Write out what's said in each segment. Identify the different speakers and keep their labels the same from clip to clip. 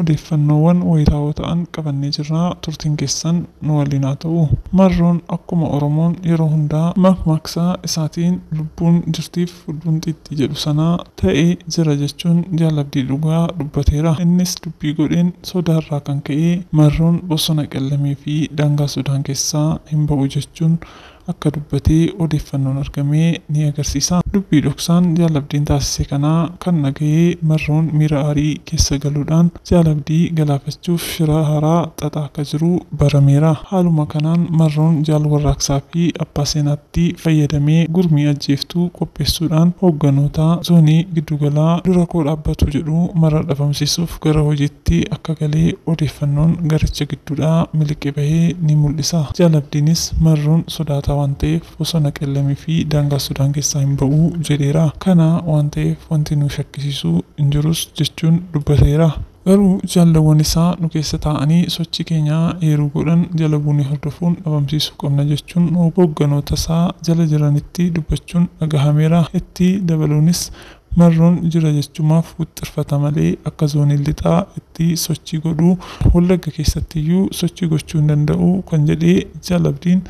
Speaker 1: Odeeffannoowwan wayitaawoo ta'an qabannee jirra turtiin keessan nu waliin haa ta'u. Marroon akkuma Oromoon yeroo hundaa makmaaksa isaatiin lubbuun jirtiif fudduun xiixxii jedhu sana ta'e jira jechuun Jaal Abdii dhugaa dubbateera. Innis dubbii godheen sodaa irraa kan ka'ee Marroon bosona Qellamee fi daangaa Sudaan keessaa hin ba'u jechuun akka dubbate odeeffannoon argame ni agarsiisa. Dubbii dhoksaan Jaal Abdiin taasise kana kan dhagahe Marroon miira aarii keessa galuudhaan Jaal Abdii galaafachuuf shira haaraa xaxaa akka jiru barameera. Haaluma kanaan Marroon Jaal Warraaqsaa fi Abbaa Seenaatti fayyadamee gurmii ajjeeftuu qopheessuudhaan hoogganoota Zoonii Giddugalaa dura koo dhaabbatu jedhu mara dhabamsiisuuf gara hojiitti tti akka gale odeeffannoon garicha gidduudhaa miliqe bahe ni mul'isa. Jaal Abdiinis Marroon sodaataa waan ta'eef bosona Qellem fi daangaa Sudaan keessaa hin ba'u jedheera. Kana waan ta'eef wanti nu shakkisiisu hin jirus jechuun dubbateera. Garuu jaallawwan isaa nu keessa taa'anii sochii keenya eeruu godhan jala buunee hordofuun dhabamsiisuu qabna jechuun hoogganoota isaa jala jiranitti dubbachuun dhagahameera. Itti dabaluunis Marroon jira jechumaaf wixxirfata malee akka Zooniin Lixaa itti sochii godhu Wallagga keessattiyyuu sochii gochuu hin danda'u kan jedhe Jaal Abdiin,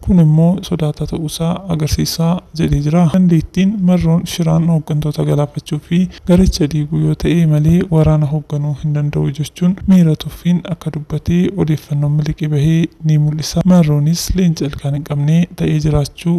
Speaker 1: kun immoo sodaataa ta'uusaa agarsiisa jedhee jira. Dandeettiin Marroon shiraan hoggantoota galaafachuu fi garicha diiguu yoo ta'e malee waraana hogganuu hin danda'u jechuun miira tuffiin akka dubbate odeeffannoon miliqee bahe ni mul'isa. Marroonis leenca ilkaan hin qabne ta'ee jiraachuu.